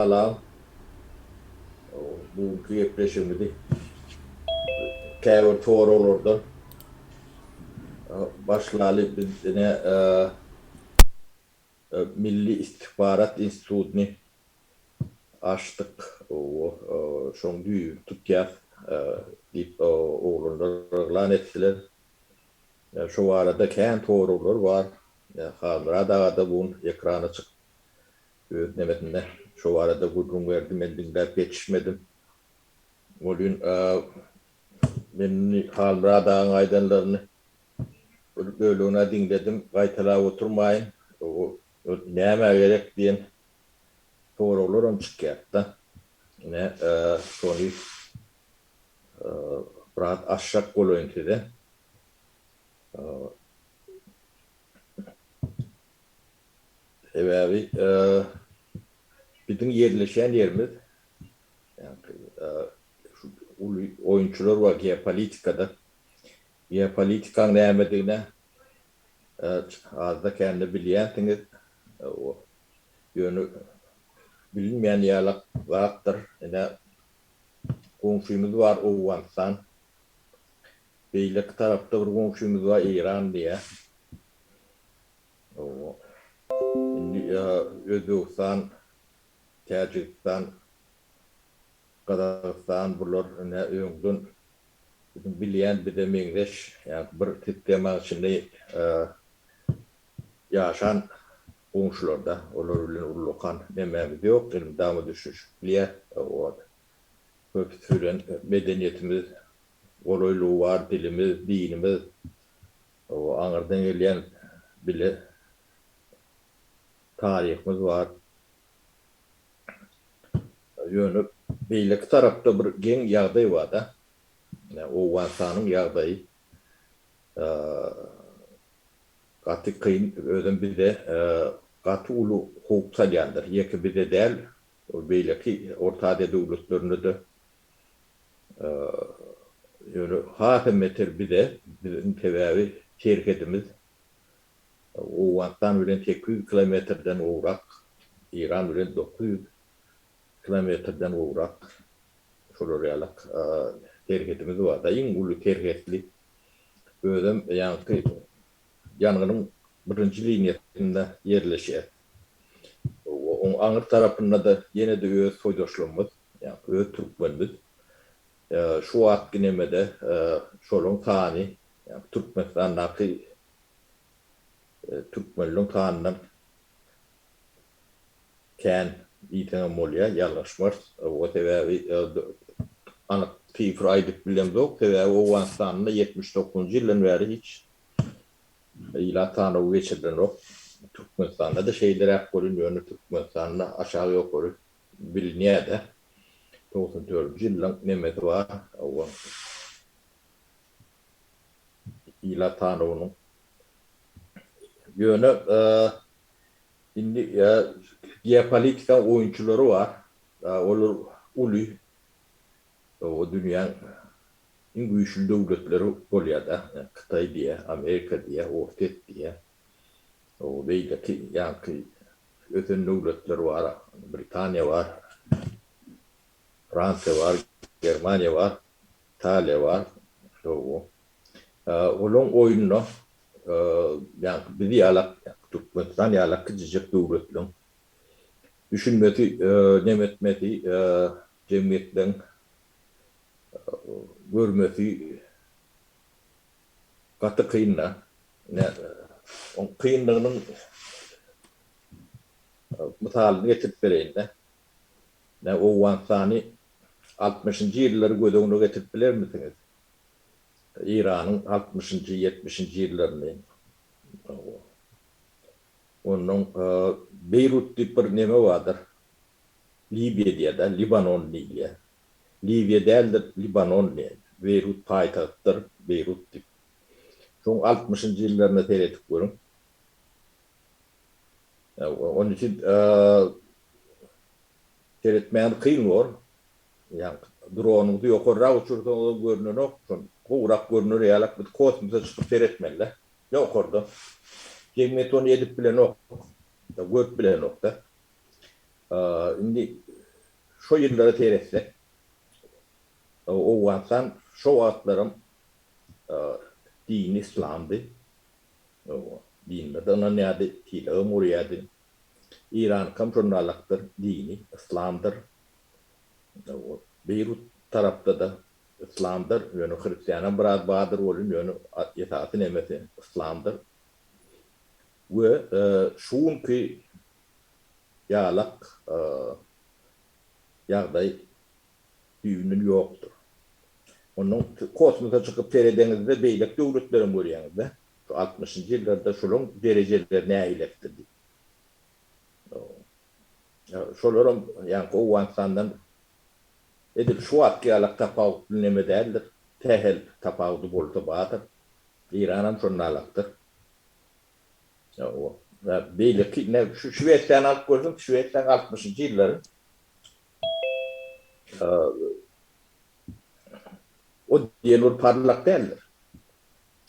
Salam. Bu günki gepleşigimizi käbir soraglardan başlaly. Biz ine Milli istihbarat institutyny açdyk. Şoň düýbüni tutýas diýip oglanlar yglan etdiler. Şo barada kän soraglar bar. Halmyrat aga-da bu gün ekrana çykyp Öz nebesinde şo barada gürrüň berdi, men diňläp ýetişmedim. Welin, men indi Halmyrat agaň aýdanlaryny bir bölegini-ä diňledim, gaýtalap oturmaýyn. Ol nämä gerek diýen soraglaram çykýardy-da. Ine, şony biraz açjak bolaýyn size. Sebäbi biziň ýerleşýän ýerimiz şu uly oýunçylar bar geopolitikada. Geopolitikaň nämedigine azda-kände bilýänsiňiz. Ýöne bilinmeýän ýalak zatdyr. Ine goňşymyz bar Owganystan. Beýleki tarapda bir goňşymyz bar Eýran diýä. Owo. Indi Özbegistan, Täjigistan, Gazagystan bular ine öňden biziň bilýän bize meňzeş ýa-da bir sistemanyň içinde ýaşan goňşularda. Olar bilen ullakan nemämiz ýok elmydama düşünişip bilýäs. Owo. Köpüsi bilen medeniýetimiz, golaýlygy bar dilimiz, dinimiz, aňyrdan gelýän bile taryhymyz bar. Ýöne beýleki tarapda bir geň ýagdaý bar-da. Owganystanyň ýagdaýy gaty kyn, özem bize gaty uly howp salýandyr. Ýeke bize däl, Ol beýleki Orta Aziýa döwletlerinde-de ýöne hasam beter bize, biziň sebäbi serhedimiz Owganystan bilen sekiz ýüz kilometrden gowrak, Eýran bilen dokuz ýüz kilometrden gowrak şolar ýaly serhedimiz bar-da, iň uly serhetli özem ýaňky ýangynyň birinji liniýasynda ýerleşýär we oň aňry tarapynda-da ýene-de öz soýdaşlarymyz, ýagny öz türkmenimiz. Şu wagt ginemede şolaryň sany, ýagny Türkmenistandaky türkmenleriň sanyndan kän diýseň hem bolýar, ýalňyşmarys. Sebäbi anyk sifr aýdyp bilemzok, sebäbi Owganystanda ýetmiş dokuzynjy ýyldan bäri hiç Ilat sanawy geçirilenok. Türkmenistanda-da şeýleräk bolýan, ýöne Türkmenistanda aşak-ýokary bilinýär-de. Togsan dördünji ýylyň nemesi bar. Ilat sanawynyň. Ýöne indi geopolitika oýunçylary bar. Olar uly Oba dünýäň iň güýçli döwletleri bolýada. Ýa Hytaý diýe, Amerika diýe, Orsýet diýe. Oba beýleki ýaňky ösen döwletler bar. Britaniýa bar. Fransiýa bar. Germaniýa bar. Italiýa bar. Oba. Olaň oýunda ýaňky biz ýalak, Türkmenistan ýalak kiçijek döwletleň düşünmesi, nemetmesi, jemgyýetleriň görmesi gaty kyn-da. Oň kynlygynyň mysalyny getirip bereýin-dä. Owganystany altmyşynjy ýyllary göz öňüne getirip bilermisiňiz? Eýranyň altmyşynjy, ýetmişinji ýyllaryny. Onnoň Beýrut diýip bir neme bardyr. Libiýada Libanon diýilýär. Libiýa däldir, Libanon diýen. Beýrut paýtagtdyr, Beýrut diýip. Şoň altmyşynjy ýyllaryna seredip görüň. Onuň üçin seretmäni kyn bor. Ýaňky dronuňyzy ýokarrak uçursaňyzam görnenok. Şon gowrak görner ýalak biz kosmosa çykyp seretmeli-dä. Ýokardan. Jemgyýet ony edip bilenok. Görüp bilenok-da. Indi şo ýyllara seretsek, Owganystan şo wagtlaram dini yslamdy. Dinlere-de ynanýardy, tilagam gurýardy. Eýranykam şondan alakdyr, dini yslamdyr. Beýrut tarapda-da yslamdyr, ýöne hristianam biraz bardyr welin, ýöne esasy nemesi yslamdyr. We şu günki ýalak ýagdaý düýbünden ýokdur. Onuň kosmosa çykyp seredeňizde beýleki döwletlerem görýäňizde şu altmyşynjy ýyllarda şolaryň derejeleri nägileksiz diýip. Şolaram ýaňky Owganystandan edil şu wagtky ýalak tapawutly neme däldir. Sähel tapawudy bolsa bardyr. Yranam şonda alakdyr. Beýleki şu Şwesiýany alyp görseň, Şwesiýa altmyşynjy ýyllary o diýen bir parlak däldir.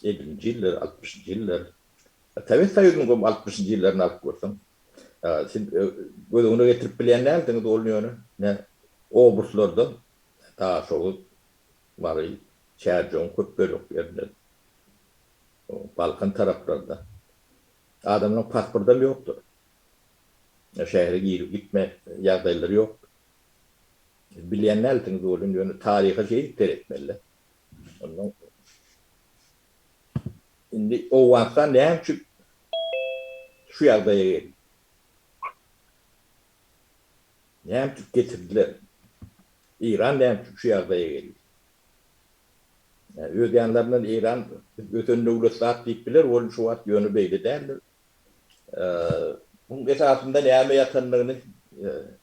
Ellinji ýyllary, altmyşynjy ýyllary, Sowet Soýuzynyň goým altmyşynjy ýyllaryny alyp görseň, siz göz öňüne getirip bilýän däldiňiz ony ýöne ine obruslardan Daşoguz, Mary, Çärjewiň köp bölek ýerinden. Balkan taraplarynda adamlaryň pasportam ýokdur. Şähere girip gitme ýagdaýlary ýokdur. Bilýän dälsiňiz welin, ýöne taryha şeýdip seretmeli-de. Onnoň indi Owganystan näme üçin şu ýagdaýa geldi? Näme üçin getirdiler? Eýran näme üçin şu ýagdaýa geldi? Öz ýanlaryndan Eýran biz ösen döwlet zat diýip biler, ol şu wagt ýöne beýle däldir. Muň esasynda näme ýatandygyny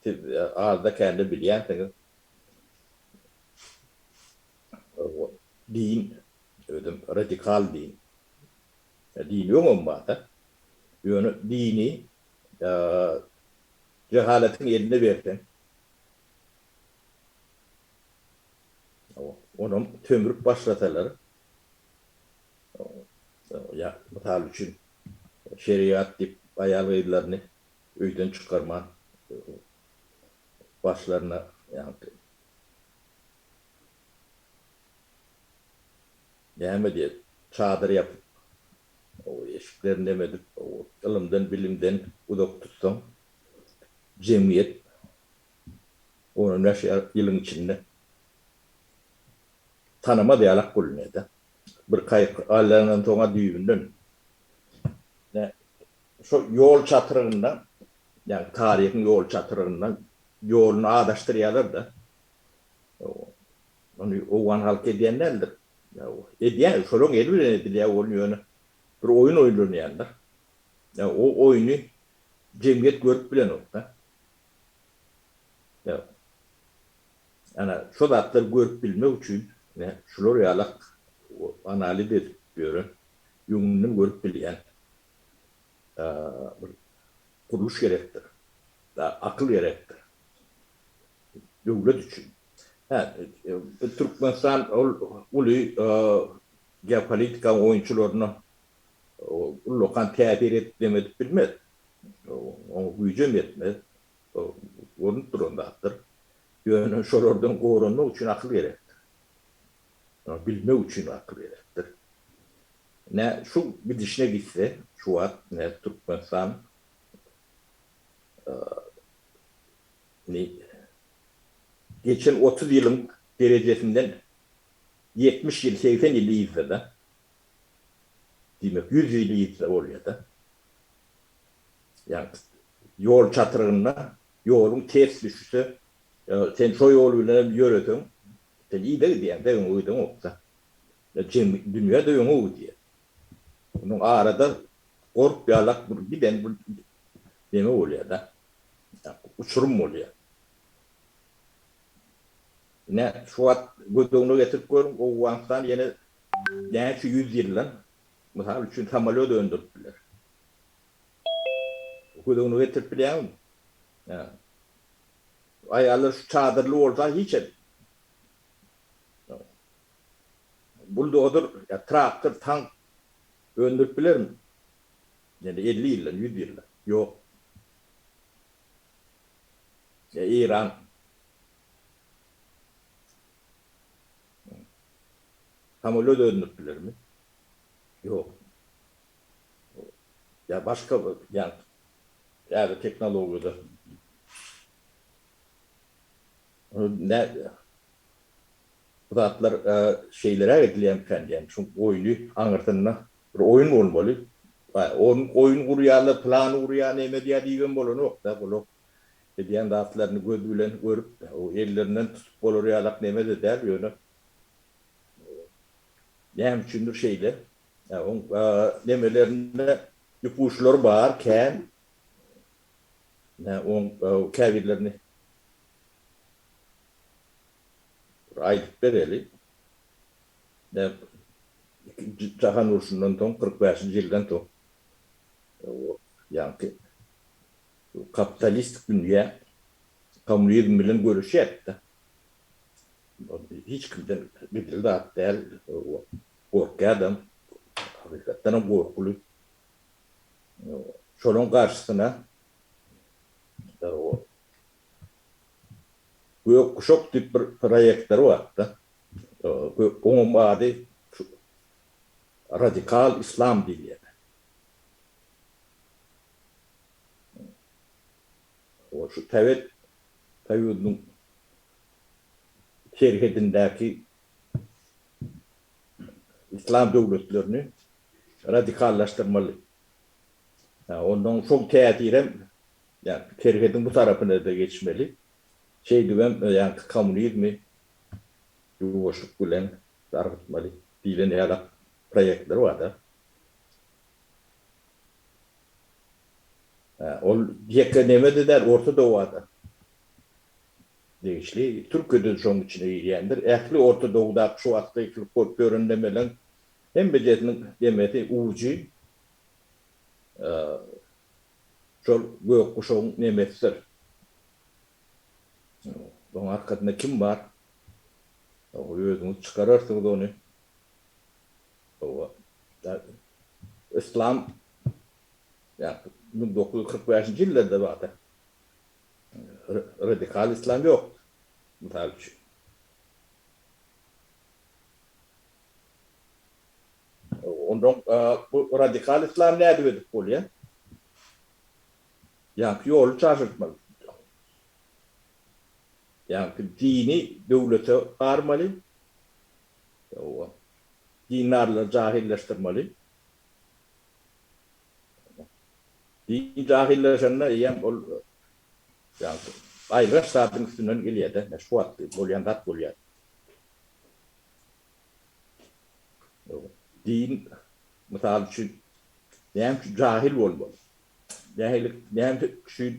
siz azda-kände bilýänsiňiz. Din, özem radikal din. Dini öňem bar-da. Ýöne dini jehaletiň eline berseň. Onam sömrüp başlasalar, ýa mysal üçin şerigat diýip aýal-gyzlaryny öýden çykarman başlaryna ýagny näme diýer, çadyr ýapyp, eşiklerini näme edip, ylymdan-bilimden uzak tutsaň, jemgyýet Ony näçe ýylyň içinde tanamaz ýalak bolunýar-da. Bir kaýyk aýlandan soň-a düýbünden şol ýol çatrygynda, ýagny taryhyň ýol çatrygynda ýoluny azaşdyrýarlar-da. Muny owgan halky edýän däldir. Edýär, şolaryň eli bilen edilýär ol ýöne bir oýun oýlanýarlar. O oýny jemgyýet görüp bilenok-da. Ana, şo zatlary görüp bilmek üçin şular ýalak analiz edip ýören, öňünden görüp bilýän bir gurluş gerekdir. Akyl gerekdir. Döwlet üçin. Hä, Türkmenistan ol uly geopolitika oýunçylaryna ullakan täsir edip-näme edip bilmez. Oňa güýjem ýetmez. Bu görnüp duran zatdyr. Ýöne şolardan goranmak üçin akyl gerekdir. Ony bilmek üçin akyl gerekdir. Nä şu gidişine gitse, şu wagt nä Türkmenistan indi geçen otuz ýylyň derejesinden ýetmiş ýyl, segsen ýyl yzda-da. Diýmek, ýüz ýyl ýitse bolýar-da. Ýa-da ýol çatrygynda ýoluň ters düşse, sen şo ýol bilenem ýöreseň, sen yza gidýäň-de, öňe gideňokda. Dünýä-de öňe gidýär. Onuň arada gorp ýalak bir giden bir neme bolýar-da. Uçurym bolýar. Ine, şu wagt göz öňüne getirip görüň, Owganystan ýene näçe ýüz ýyldan, mysal üçin, samolýot öndürip biler? Göz öňüne getirip bilýäňizmi? Hä. Aýallar şu çadyrly bolsa hiç hem. Buldozer ýa traktor, tank öndürip bilermi? Ýene elli ýyldan, ýüz ýyldan. Ýok. Ýa Eýran Samoly öz özüni bilermi? Ýok. Ýa başga bir ýa ýa-da tehnologiýada Bu zatlar şeýleräk edilýärmikan diýýän. Şu oýny aňyrsynda bir oýun bolmaly. Oýun gurýarlar, plan gurýar, näme edýär diýibem bolanok-da, bular Edýän zatlaryny göz bilen görüp, o ellerinden tutup bolar ýalak neme-de däl, ýöne näme üçindir şeýle. Oň nemelerinde ýupuçlary bar, kän. Oň käbirlerini bir aýdyp bereli. Ikinji jahan urşundan soň, kyrk bäşinji ýyldan soň, ýaňky Kapitalistik dünýä kommunizm bilen göreşýärdi-de. Hiç kimden gizli zat däl, gorkýardam, hakykatdanam gorkuly. Şonuň garşysyna Gök guşak diýip bir proýektleri bardy-da. Onuň ady radikal islam diýilýärdi. Ol şu Sowet Soýuzynyň serhedindäki yslam döwletlerini radikallaşdyrmaly. Ondan şol täsirem serhediň bu tarapyna-da geçmeli. Şeýdibem ýaňky kommunizmi ýuwaşlyk bilen dargatmaly diýlen ýalak proýektler bar-da. Ol ýeke Nemede däl, Orta Dowa-da degişli, Türkiýede-de şonuň içine girýändir. Ähli Orta Dowdaky şu wagtky eýkilip goýup ýören nemeleriň hemmejesiniň nemesi, ujy şol gök guşagyň nemesidir. Onuň arkasynda kim bar? Özüňiz çykararsyňyz ony. Hawa, yslam ýa-da müň dokuz ýüz kyrk bäşinji ýyllarda wagty radikal yslam ýokdy, mysal üçin. Onda bu radikal yslam nädip edip bolýa? Ýaňky ýoly çaşyrtmaly. Ýaňky dini döwlete garmaly. Hawa. Dindarlary jahyllaşdyrmaly. Din jahyllaşanda eýýäm ol ýagty aýylganç zadyň üstünden gelýär-de, meş bu wagtky bolýan zat bolýar. Din, mysal üçin, näme üçin jahyl bolmaly? Nähililik, näme üçin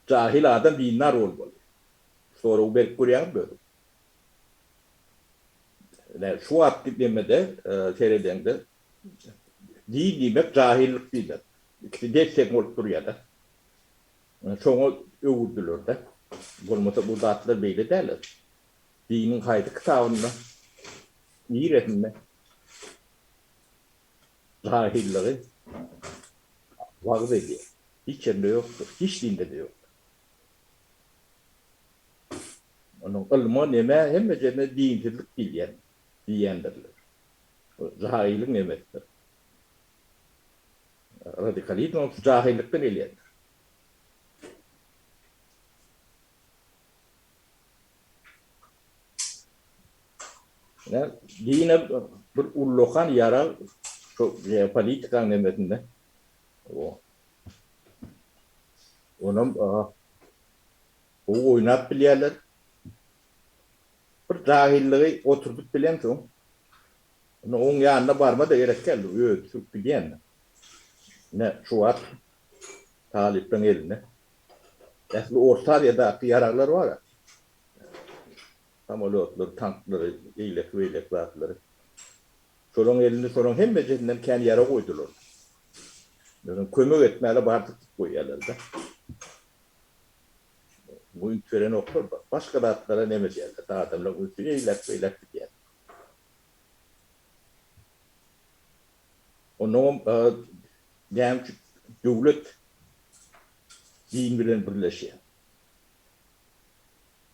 jahyl adam dindar bolmaly? Soragy berk görýäňizmi özüňiz? Ine, şu wagtky demede seredeňde, din diýmek, jahyllyk diýmek. Ikisi deň-teň bolup durýar-da. Şoňa öwürdiler-de. Bolmasa bu zatlar beýle däl. Diniň haýsy kitabynda, niresinde jahyllygy wagyz edýär? Hiç ýerinde ýokdur. Hiç dinde-de ýokdur. Onuň ylma neme hemme jende dinsizlik diýilýän diýýändirler. Bu jahylyň nemesidir. Radikalizm hem şu jahylykdan gelýändir. Ine, dine bir ullakan ýara şu geopolitikaň nemesinde. Onam Gowy oýnap bilýärler. Bir jahyllygy oturdyp bilemsoň, onda oň ýanyna barma-da gerek däl, özi sürüp gidýändir. Ine, şu wagt talyplaň elinde ähli Orta Aziýadaky ýaraglar bar-a. Samolýotlary, tanklary, eýleki-beýleki zatlary. Şolaň elinde şolaň hemmesinden kän ýarag goýdular. Ýöne kömek etmäle bardyk diýip goýýarlar-da. Muňa üns berenoklar, başga zatlara nemedýärler. Adamlaryň ünsi eýläk-beýläk gidýär. Onnoňam näme üçin döwlet din bilen birleşýär?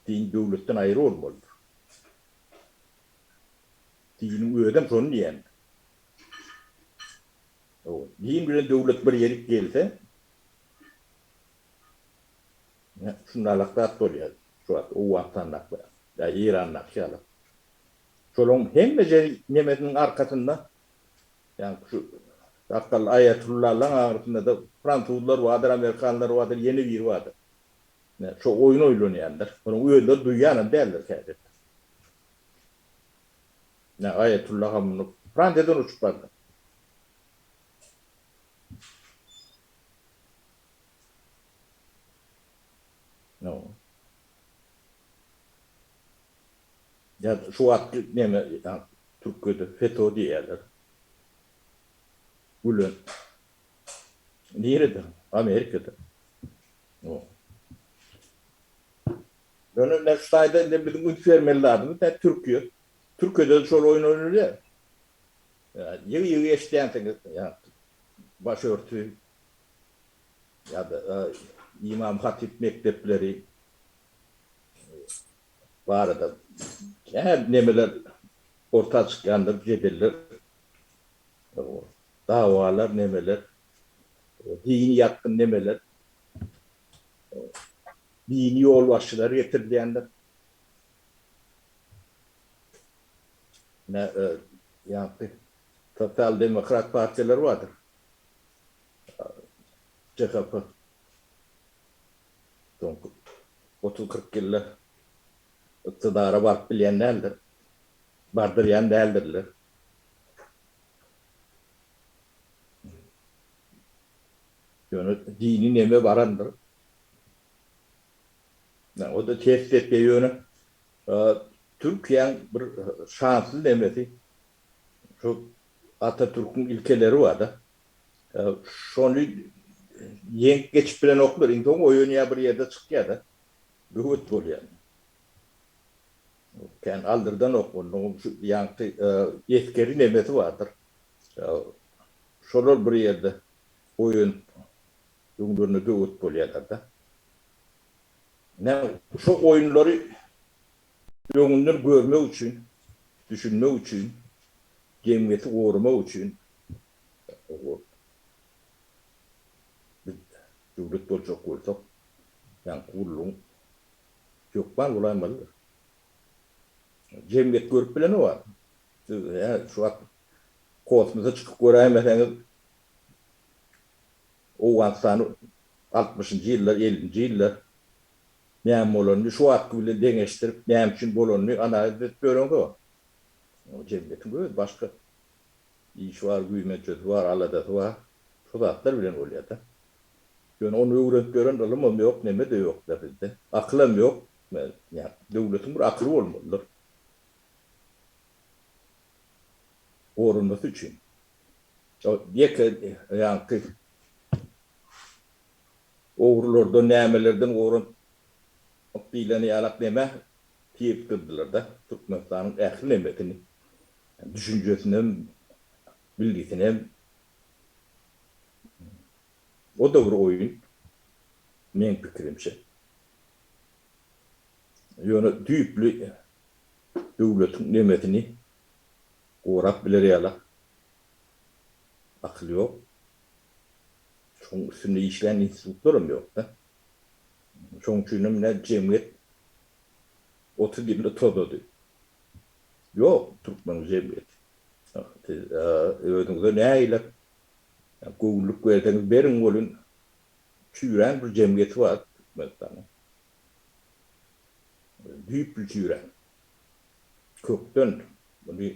Din döwletden aýry bolmalydyr. Diniň özem şony diýýän. Din bilen döwlet bir ýerik gelse, Ine, şundalak zat bolýar şu wagt Owganystandakylary ýa Eýrandaky ýaly. Şolaryň hemme jeri nemesiniň arkasynda, ýaňky şu sakgally aýatullalaň agrasynda-da fransuzlar bardyr, amerikanlar bardyr, ýene biri bardyr. Ine, şo oýun oýlanýandyr. Muny özleri duýýanam däldir häzirlik. Ine, aýatulla Hamnuh Fransiýadan uçup bardy. Şu wagt neme Türkiýede feto diýýärler. Gülen. Nirede? Amerikada. Ýöne şu taýda indi biziň üns bermeli zadymyz näme Türkiýe. Türkiýede şol oýun oýnalýar. Ýygy-ýygy eşidýänsiňiz baş örtüp Ýa-da ymam-hatyp mekdepleri barada käbir nemeler orta çykýandyr, jedeller, dawalar, nemeler, dini ýatgyn nemeler, dini ýolbaşçylar getirilýändir. Ýa-da sosial-demokrat partiýalar bardyr. DHP soňky otuz-kyrk ýylda ykdydara baryp bilýän däldir, bardyrýan däldirler. Ýöne dini neme barandyr. O-da ters depýär. Ýöne Türkiýäň bir şansly nemesi, Şu Atatürküň ilkeleri barda. Şony ýeňip geçip bilenoklar. Iň soň oýanýar bir ýerde çykýarda. Böwet bolýar. Kän aldyrdanok onuň şu ýaňky esgeri nemesi bardyr. Şolar bir ýerde oýanyp öňlerine böwet bolýarlarda. Näme şo oýunlary. Öňünden görmek üçin, düşünmek üçin, jemgyýeti goramak üçin biz döwlet boljak bolsak, ýaňky gullugyň hökman bolaýmalydyr. Jemgyýet görüp bileni bar. Siz hä şu wagt kosmosa çykyp göräýmeseňiz, Owganystany altmyşynjy ýyllar, ellinji ýyllar Näme bolanyny şu wagtky bilen deňeşdirip, näme üçin bolanyny analiz edip ýöreňsoň, oňa jemgyýetiň öz başga işi bar, güýmençesi bar, aladasy bar. Şu zatlar bilen bolýar-da. Ýöne ony öwrenip ýören ylymam ýok, neme-de ýok-da bizde. Akylam ýok. Döwletiň bir akyly bolmalydyr. Goranmasy üçin. Ýeke ýaňky. Ogrulardan nämelerden goranyp diýleni ýalak neme tirikdirdiler-de, Türkmenistanyň ähli nemesini, düşünjesinem, bilgisinem. O-da bir oýun, meň pikirimçe. Ýöne düýpli döwletiň nemesini gorap biler ýalak akyl ýok. Şoň üstünde işlän institutlaram ýokda. Şoň üçinem ne jemgyýet otuz ýylda tozady. Ýok türkmeniň jemgyýeti. Siz özüňize nägilek göwünlik berseňiz beriň welin çüýrän bir jemgyýeti bar Türkmenistanyň. Düýpli çüýrän. Kökden muny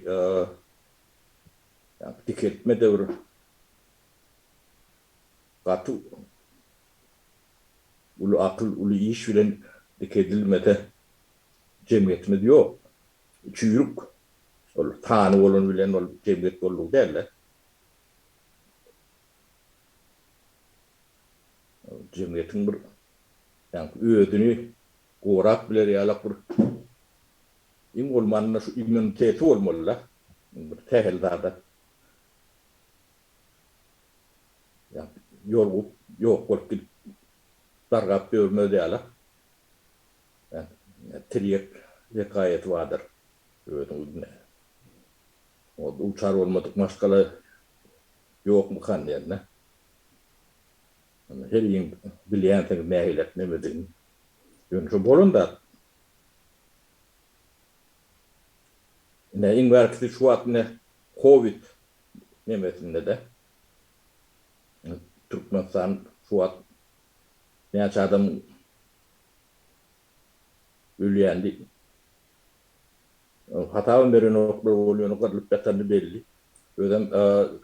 Ýa dikeltme döwri gaty uly akyl, uly iş bilen dikeldilmese jemgyýetimiz ýok. Çüýrük ol sany bolany bilen ol jemgyýet boldugy däldi. Jemgyýetiň bir özüni gorap biler ýalak bir. Iň bolmanda şu immuniteti bolmalyda bir sähel zada ýolugyp ýok bolup gidip dargap ýörmez ýala tirýek wekaýaty bardyr. Özüň bilme. Oňa duçar bolmadyk maşgala ýokmykan diýende. Heriň bilýänsiňiz nähili nemedigini. Ýöne şu bolan zat Ine, iň bärkisi şu wagt ine covid nemesinde-de Türkmenistan şu wagt näçe adam ölýän diýip hasabam berenoklar, ol ýöne gyrlyp ýatany belli. Özem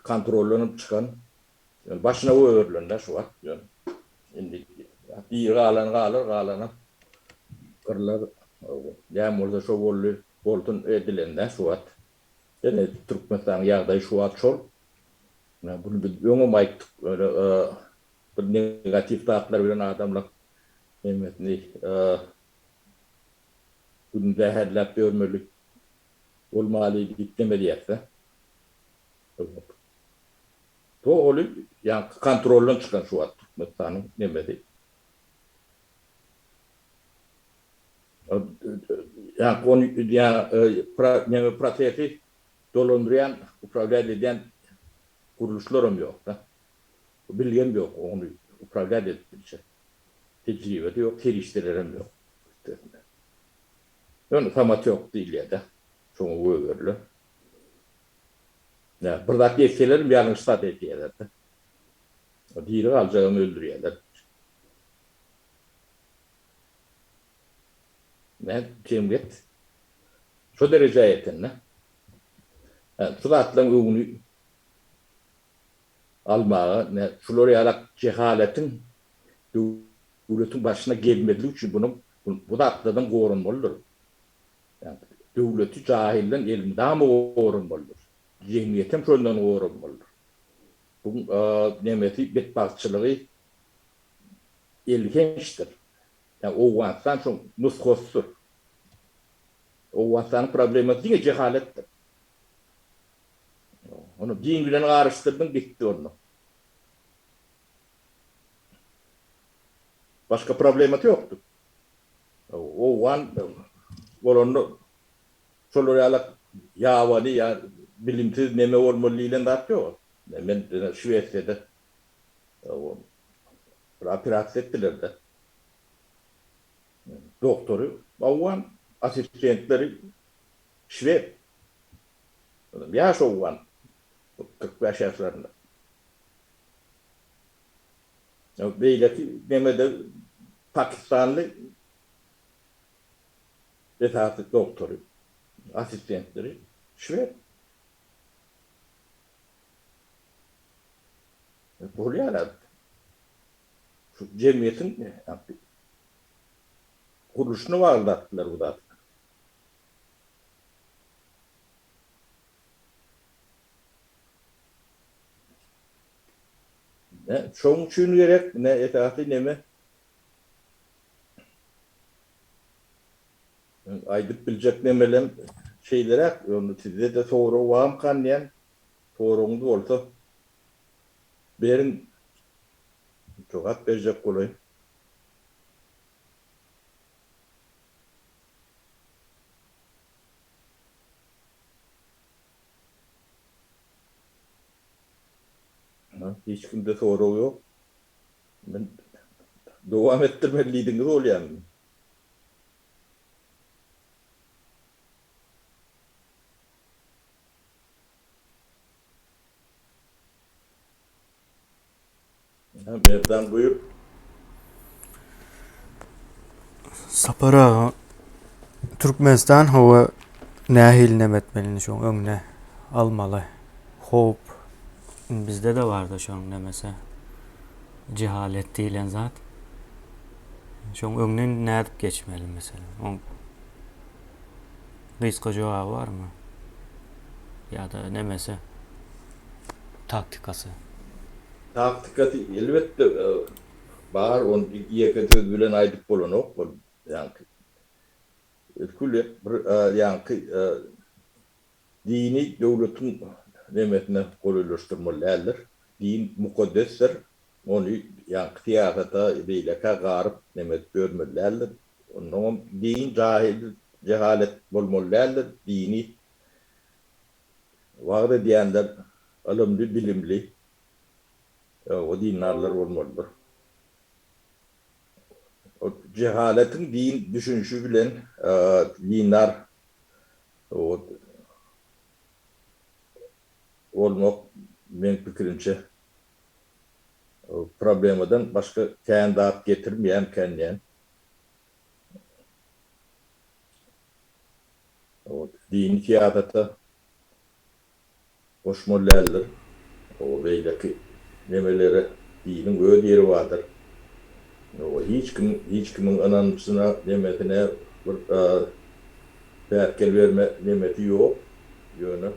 kontroldan hem çykan Ýöne başyna goýberilende şu wagt ýöne indi biri galan galar, galanam gyrlar. Näme bolsa şo boldy, bolsun edilende şu wagt ýene Türkmenistanyň ýagdaýy şu wagt şol. Ýa bunu biz öňem aýtdyk, ýöne bir negatiw zatlar bilen adamlaryň hemmesini gününi zäherläp ýörmeli bolmaly diýip demedýäs-de. Bolmadyk. Bu oly ýaňky kontroldan çykan şu wagt Türkmenistanyň nemesi. Ýaňky ony neme prosesi dolandyrýan, uprawiýat edýän gurluşlaram ýokda. Bilgem ýok ony uprawiýat edip biljek. Tejribede ýok, serişdelerem ýok üstesine. Ýöne samatýok diýilýärde. Şoňa gögeriler. Näme, bir zat etselerem ýalňyş zat edýäler-de. Diri galjagam öldürýäler. Nädip jemgyýet şo derejä ýetende, şu zatlaryň öňüni almaga, şular ýaly jehaletiň döwletiň başyna gelmezligi üçin bu zatlardan goranmalydyr. Döwleti jahyldan elmydama goramalydyrys. Jemgyýetem şondan goranmalydyr. Bu nemesi betbagtçylygy elhençdir. Ýa Owganystan şoň nusgasydyr. Owganystanyň problemasy diňe jehaletdir. Ony din bilen garyşdyrdyň gitdi onda. Başga problemasy ýokdur. Owgan bolanda şolar ýaly ýabany ýa bilimsiz neme bolmaly diýlen zat ýok. Men diňe Şwesiýada bir operasiýa etdiler-de. Doktory owgan, assistentleri şwed. Ýaş owgan, kyrk bäş ýaşlarynda. Beýleki gemide pakistanly esasy doktory, assistentleri şwed. Bolýar-a. Şu jemgyýetiň gurluşyna bagly zatlar bu zatlar. Ne çoň üçin gerek, ne esasy neme? Meň aýdyp biljek nemelem şeýleräk, ýöne sizde-de sorag barmykan diýýän. Soragyňyz bolsa beriň, jogap berjek bolaýyn. Hiç kimde sorag ýok. Men dowam etdirmeli diýdiňiz bolýamy? Merdan buyur. Sapar aga Türkmenistan hava nähili nem etmelini şoň öňüne almaly. Hop bizde de barda şoň nemese cehalet diýilen zat. Şoň öňüne nädip geçmeli mesela. Oň Gysga jogaby barmy? Ýa-da nemesi? Taktikasy? Taktikasy elbetde bar, ony ýeke söz bilen aýdyp bolanok bol ýaňky. Ötkül bir ýaňky dini döwletiň nemesine golaýlaşdyrmaly däldir. Din mukaddesdir. Ony ýaňky syýasata beýlekä garyp neme edip ýörmeli däldir. Onnoňam din jahil jehalet bolmaly däldir. Dini wagyz edýänler ylymly bilimli we dindarlar bolmalydyr. Ol jehaletiň din düşünişi bilen dindar bolmak meň pikirimçe Problemadan başga kän zat getirmeýänkändýän. Dini syýasata goşmaly däldir. Beýleki nemelere diniň öz ýeri bardyr. Hiç kim hiç kimiň ynanjyna, nemesine bir päsgel berme nemesi ýok. Ýöne.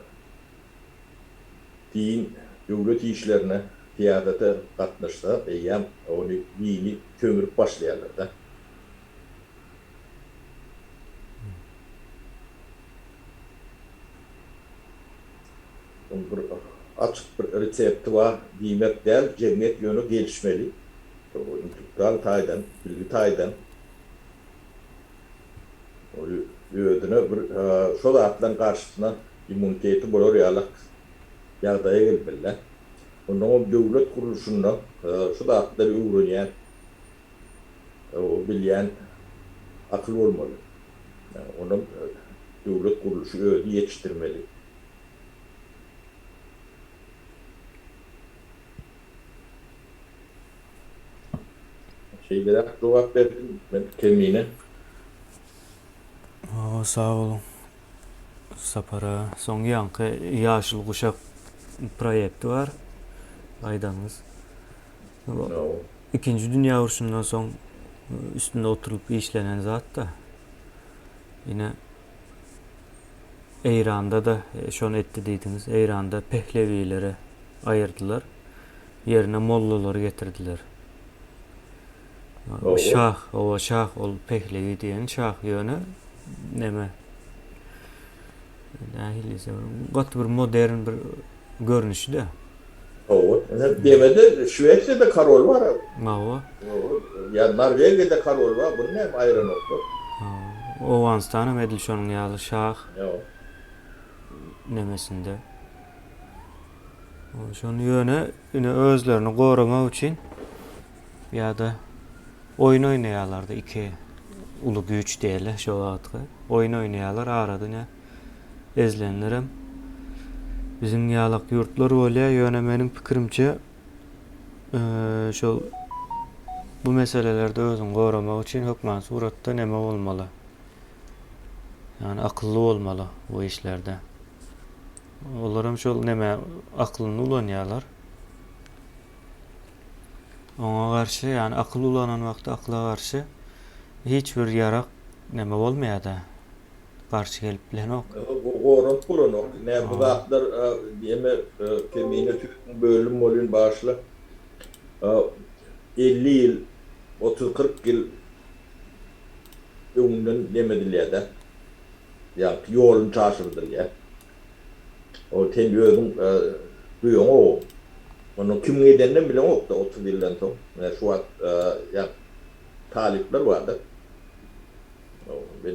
Din, döwlet işlerine, syýasata gatnaşsa, eýýäm ony dini sömürip başlaýarlar-da. Munuň bir açyk bir resepti bar diýmek däl, jemgyýet ýöne gelişmeli, intellektual taýdan, bilgi taýdan. Ol özüne bir şo zatlaryň garşysyna immuniteti bolar ýalak ýagdaýa gelip bildi. Ondan ol döwlet gurluşynda şu zatlary öwrenýän, bilýän akyl bolmaly. Onam döwlet gurluşy özüni ýetişdirmeli. Şeýleräk jogap berdim men Kemine. Hawa sag bol Sapar aga. Soň ýaňky Ýaşyl guşak proýekti bar aýdanyňyz. Ikinji dünýä urşundan soň üstünde oturylyp işlenen zat-da. Ine Eýranda-da şony etdi diýdiňiz. Eýranda pehlewileri aýyrdylar. Ýerine mollalary getirdiler. Ýa şah, oba şah ol pehlewi diýen şah ýöne neme nähili diýsem gaty bir modern bir görnüşde. Hawa, ine demede Şwesiýada karol bar. Hawa. Ýa Norwegiýada karol bar, buny näme aýyranoklar? Hawa, Owganystanam edil şonuň ýaly şah. Hawa. Nemesinde. Şony ýöne ine özlerini goramak üçin Ýa-da oýun oýnaýarlar-da, iki uly güýç diýeli şo wagtky. Oýun oýnaýarlar, arada ine ezilenlerem biziň ýalak ýurtlar bolýar, ýöne meniň pikirimçe, şol bu meselelerde özüňi goramak üçin hökman suratda neme bolmaly? Ýagny akylly bolmaly bu işlerde. Olaram şol neme aklyny ulanýarlar. Oňa garşy, ýagny akyl ulanan wagty akyla garşy hiç bir ýarak näme bolmaýada, garşy gelip bilenok. Gorap bolanok. Nä bu zatlar ýeme kemine tüýsün bölüm bolyn başla elli ýyl otuz kyrk ýyl öňünden nemedilýädä. Ýagny ýolun çaşyrdylýa. Ol sen özüň duýaňow. Onuň kimiň edeninem bileňok-da otuz ýyldan soň. Menä şu wagt ýa talyplar bar-da.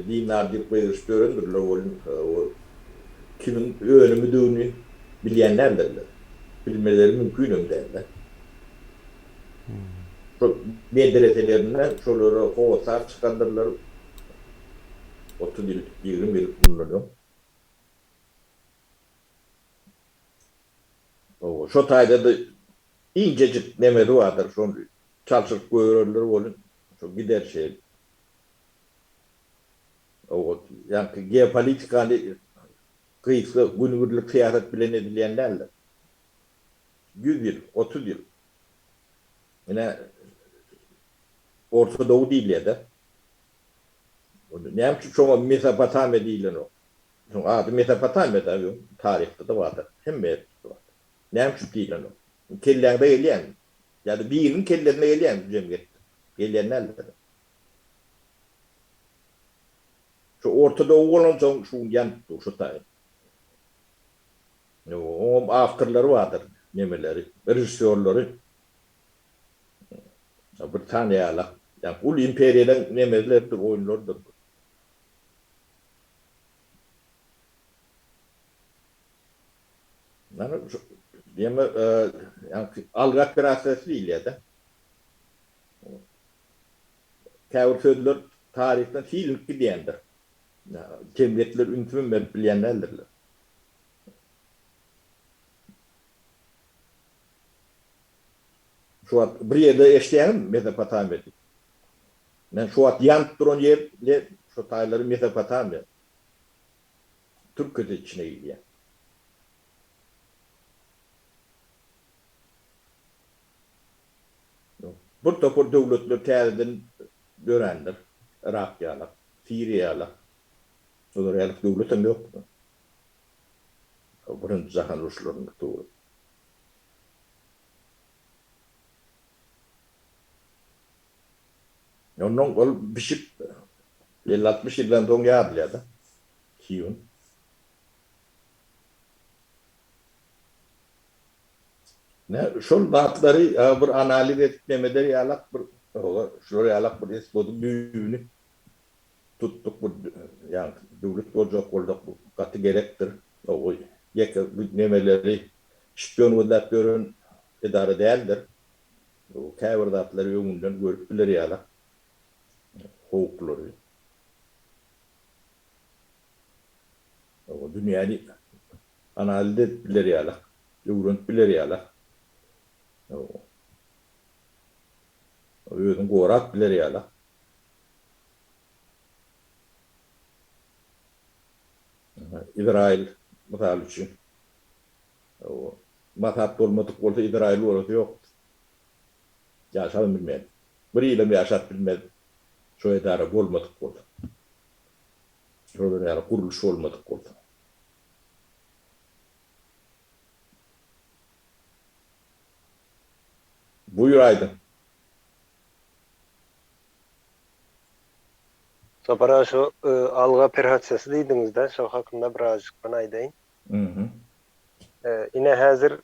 Dinar diýip gygyryşyp ýörendirler welin, ol kimiň önümidigini bilýän däldirler. Bilmeleri mümkinem däl-de. Şol medreselerinden şolara hossar çykandyrlar. Otuz ýyl, ýigrimi ýyl mundan öň. Hawa, şo taýda-da injejik nemesi bardyr, şony çalşyryp goýberenler welin, şo gider şeýle. Hawa, ýaňky geopolitikany gysga günübirlik syýasat bilen edilýän däldir. Ýüz ýyl, otuz ýyl. Ine, Orta dogy diýilýär-de. Onda näme üçin şoňa Mesopotamiýa diýilenok? Şoň ady Mesopotamiýa-da, öň taryhda-da bardyr. Hemme ýerde şol at. Näme üçin diýilenok? Kelläňde gelýärmi? Ýa-da biriniň kellesine gelýärmi bu jemgyýetde? Gelýän däldir. Şu Orta Dow bolansoň şu gün ýanyp dur şu taýyn. Oňam awtorlary bardyr, nemeleri, režissýorlary. Britaniýaly ýaly uly imperiýadan nemezlerdir, oýunlardyr. Ýagny şu diýeme ýagny algy operasiýasy diýilýär-de. Käbir sözler taryhdan silinip gidýändir. Jemgyýetler ünsümi berip bilýän däldirler. Şu wagt bir ýerde eşidýäňizmi Mesopotamiýa diýip? Men şu wagt ýanyp duran ýer le şo taýlary Mesopotamiýa. Türkiýede içine girýä. Bir topar döwletler täzeden dörändir. Yrak ýaly, Siriýa ýaly. Olar ýaly döwletem ýokdy. Birinji jahan uruşlarynda tury. Onnoň ol bişip elli-altmyş ýyldan soň ýazylýar-da. Kiýun. Nä, şol zatlary bir analiz edip neme eder ýalak bir, şular ýalak bir esbodyň düýbüni. Tutduk bu ýan döwlet boljak bolduk bu gaty gerekdir. Owi ýeke bu nemeleri şpion gözläp ýören edara däldir. Bu käbir zatlary öňünden görüp biler ýalak howplary. Owi dünýäni analiz edip biler ýalak, öwrenip biler ýalak. Owi. Özüni gorap biler ýalak. Izraýyl, mysal üçin, Masat bolmadyk bolsa, Izraýyl bolsa ýokdur. Ýaşabam bilmez. Bir ýylam ýaşap bilmez, şo edara bolmadyk bolsa. Şolar ýaly gurluş bolmadyk bolsa. Buýur aýdyň. Sapar-a, şu alg operasiýasy diýdiňiz-dä, şo hakynda birazjyk men aýdaýyn. Ýa-da, ine, häzir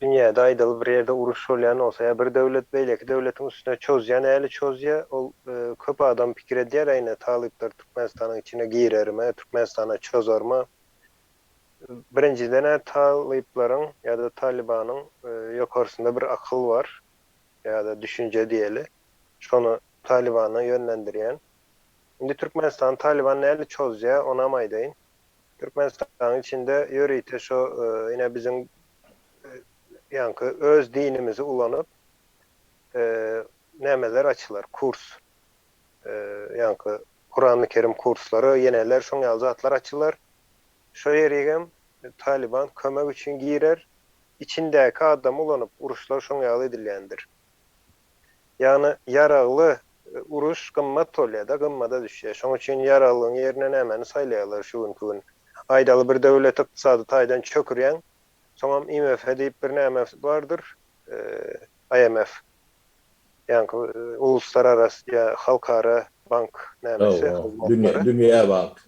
dünýäde, aýdaly, bir ýerde uruş bolýan bolsa, ýa bir döwlet beýleki döwletiň üstüne çozýan äli çozýa, ol köp adam pikir edýär-ä, ine, talyplar Türkmenistanyň içine girermi, Türkmenistana çozarmy? Birinjiden-ä talyplaryň ýa-da Talybanyň ýokarsynda bir akyl bar ýa-da düşünje diýeli. Şony Talybana ýönlendirýän. Indi Türkmenistany Talyban nädip çozýar, onam aýdaýyn. Türkmenistanyň içinde ýörite şo ine biziň ýaňky öz dinimizi ulanyp nämeler açylar, kurs. Ýaňky Kurany Kerim kurslary, ýeneler şoň ýaly zatlar açylar. Şo ýerigem Talyban kömek üçin girer. Içindäki adamy ulanyp uruşlar şoň ýaly edilýändir. Ýagny ýaragly uruş gymmat bolýada, gymmada düşýä. Şoň üçin ýaraglyň ýerine nämäni saýlaýarlar şu günki gün. Aýdaly bir döwleti ykdysady taýdan çökürýäň, soňam IMF diýip bir näme bardyr, IMF. Ýaňky uluslararasy ýa halkara bank nämesi hyzmatlary. Dünýä bank.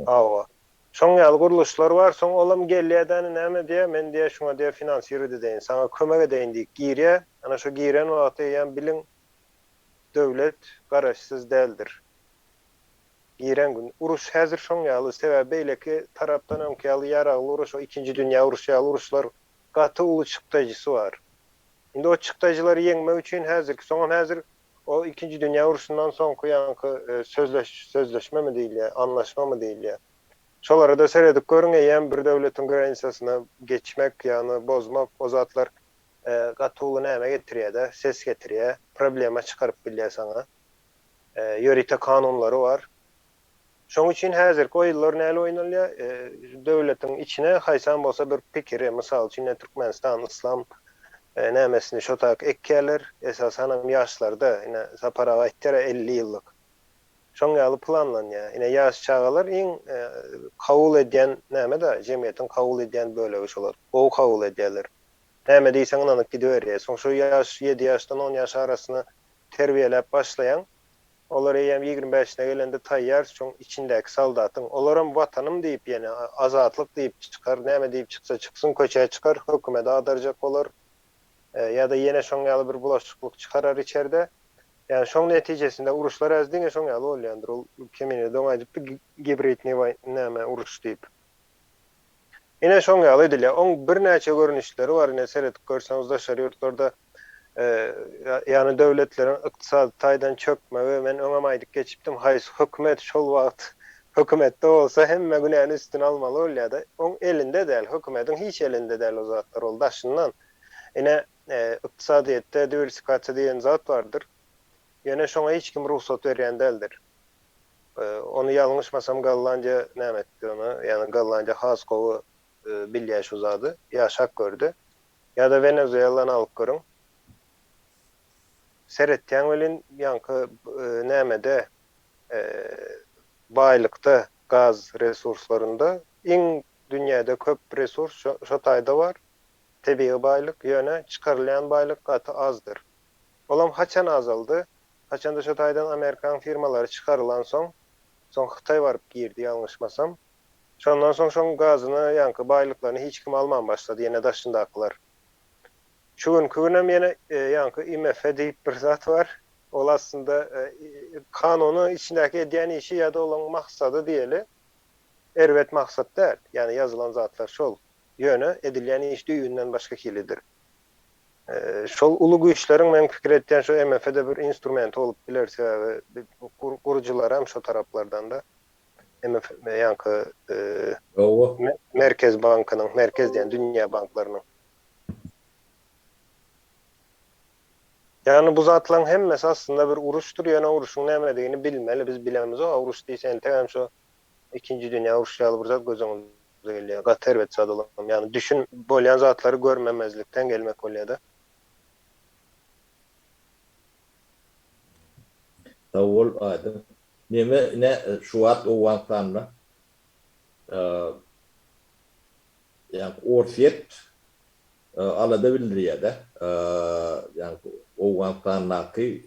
Hawa. Şoň ýaly gurluşlar bar. Soň olam gelýä-de ine näme diýýä, men diýýä şuňa diýýä finansirowat edeýin, saňa kömek edeýin diýip girýä. Ana şo giren wagty eýýäm biliň döwlet garaşsyz däldir. Giren gün. Uruş häzir şoň ýaly. Sebäbi beýleki tarapdan öňki ýaly ýaragly uruş, o ikinji dünýä uruşy ýaly uruşlar gaty uly çykdajysy bar. Indi o çykdajylary ýeňmek üçin häzirki, soňam häzir o ikinji dünýä urşundan soňky ýaňky sözleş, sözleşmemi diýilýär, anlaşmamy diýilýär. Şolara-da seredip görüň, eýýäm bir döwletiň granisasyny geçmek, ýagny bozmak, o zatlar gaty uly näme getirýär-de, ses getirýär, problema çykaryp bilýär saňa. Ýörite kanunlary bar. Şoň üçin häzirki oýunlar näl oýnalýar? Döwletiň içine haýsam bolsa bir pikiri, mysal üçin ine Türkmenistan yslam nämesini şo taýak ekýärler, esasanam ýaşlarda, ine Sapar aga aýtýar-a elli ýyllyk. Şoň ýaly planlanýar. Ine ýaş çagalar iň kabul edýän näme-de, jemgyýetiň kabul edýän bölegi şolar. Gowy kabul edýärler. Näme diýseň ynanyp gidiberýär. Soň şo ýaş ýedi ýaşdan on ýaş arasyny terbiýeläp başlaýaň. Olar eýýäm ýigrimi bäşine gelende taýýar, şoň içindäki soldatyň. Olaram Watanym diýip ýene, Azatlyk diýip çykar, näme diýip çyksa çyksyn, köçä çykar, hökümede adarjak bolar. Ýa-da ýene şoň ýaly bir bulaşyklyk çykarar içerde. Ýagny şoň netijesinde uruşlar häzir diňe şoň ýaly bolýandyr. Ol Kemine doňaýdypdy, Gibridniý näme uruş diýip. Ine şoň ýaly edilýär. Oň birnäçe görnüşleri bar. Ine seredip görseňiz daşary ýurtlarda ýany döwletleriň ykdysady taýdan çökmegi men öňem aýdyp geçipdim haýsy hökümet şol wagt hökümetde bolsa hemme günäni üstüne almaly bolýada. Oň elinde däl hökümediň hiç elinde däl o zatlar ol daşyndan. Ine ykdysadyýetde diwersikasiýa diýen zat bardyr. Ýöne şoňa hiç kim rugsat berýän däldir. Ony ýalňyşmasam Gollandiýa näme etdi ony? Ýagny Gollandiýa has gowy bilýä şu zady. Ýaşap gördi. Ýa-da Wenezuelany alyp görüň. Seretýäň welin ýaňky nämede baýlykda gaz resurslarynda iň dünýäde köp resurs şo taýda bar, tebigy baýlyk, ýöne çykarylýan baýlyk gaty azdyr. Olam haçan azaldy? Haçanda şo taýdan amerikan firmalary çykarylansoň, soň hytaý baryp girdi ýalňyşmasam. Şondan soň şoň gazyny ýaňky baýlyklaryny hiç kim alman başlady ýene daşyndakylar. Şu günki günem ýene ýaňky IMF diýip bir zat bar. Ol aslynda kanuny içindäki edýän işi ýada olaň maksady diýeli erbet maksat däl. Ýani ýazylan zatlar şol. Ýöne edilýän iş düýbünden başga hilidir. Şol uly güýçleriň men pikir etýän şu MF-de bir instrumenti bolup biler sebäbi gurujylaram şo taraplardan-da MF ýaňky Merkez bankynyň Merkez diýen dünýä banklarynyň. Ýagny bu zatlaryň hemmesi aslynda bir uruşdyr ýöne uruşyň nämedigini bilmeli biz bilemizok a uruş diýse entegem şo Ikinji dünýä urşy ýaly bir zat göz öňüňize gelýär. Gaty erbet zat olam. Ýagny düşün bolýan zatlary görmemezlikden gelmek bolýada. Sag bol Aýdym. Neme ine şu wagt Owganystanda? Ýaňky Orsýet alada bildirýärde, ýaňky Owganystandaky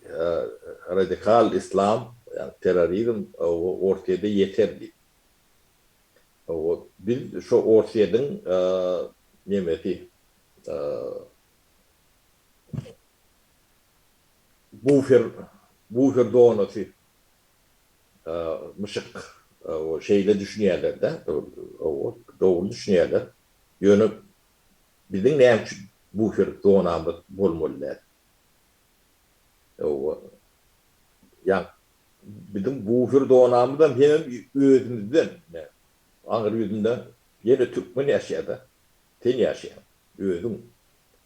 radikal islam, ýaňky terrorizm Orsýede ýeter diýip. Biz şo Orsýediň nemesi, bufer, bufer zonasy. Myşyk şeýle düşünýärler-dä, hawa, dogry düşünýärler. Ýöne biziň näme üçin bufer zonamyz bolmaly däl? Hawa, ýa biziň bufer zonamyzam hemem özümizden, ine, aňry ýüzünde ýene türkmen ýaşaýar-da, sen ýaşaýaň, özüň,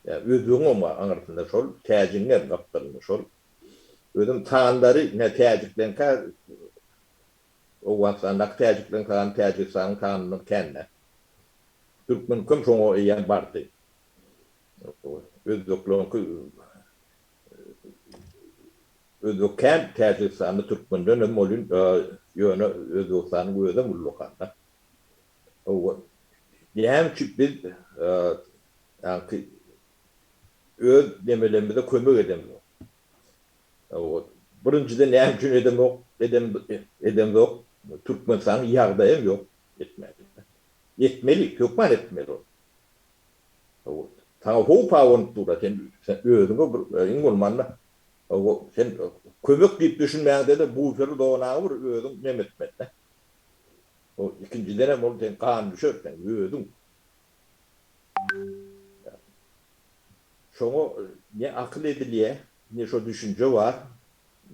ýa özbegiňem bar aňrysynda, şol täjigiňem gapdalynda şol Özüm tandary ne täjikleňkä Owganystandaky täjikleň tagamy Täjigistanyň tagamyndan kände. Türkmeniňki hem şoňa eýýäm bardy. Özbekleriňki Özbek kän Täjigistanda türkmenden hem bolýun ýöne Özbegistanyň özi hem ullakan-da. Näme üçin biz ýaňky öz demelerimize kömek edemzok. Birinjiden näme üçin edemok, edemzok, Türkmenistanyň ýagdaýam ýok etmäge. Etmeli, hökman etmeli ol. Saňa howp abanyp dur-a, sen özüňe bir, iň bolmanda, sen kömek diýip düşünmäňde-de bufery zonaňy bir özüň nemetmeli-dä. Ikinjidenem ol seň ganyňa düşer, sen özüň. Şoňa ne akyl edilýär, ne şo düşünje bar,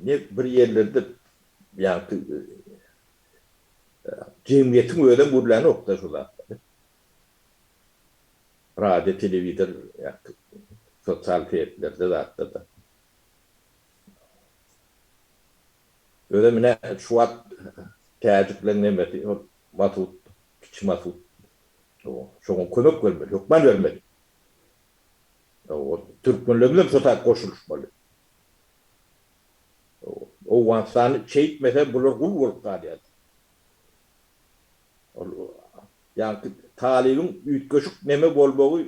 ne bir ýerlerde ýagty jemgyýetiň özem gürlänok-da şo zatlary. Radio, telewizor ýagty sosial setlerde zatlarda. Özem ine şu wagt täjikleň nemesi ol Masud, kiçi Masud Hawa, şoňa kömek bermeli, hökman bermeli. Hawa, türkmenleriň hem şo taýda goşulyşmaly. Hawa, Owganystany çeýtmese bular gul bolup galýar. Ol, ýaňky Talybyň üýtgeşik neme bolmagy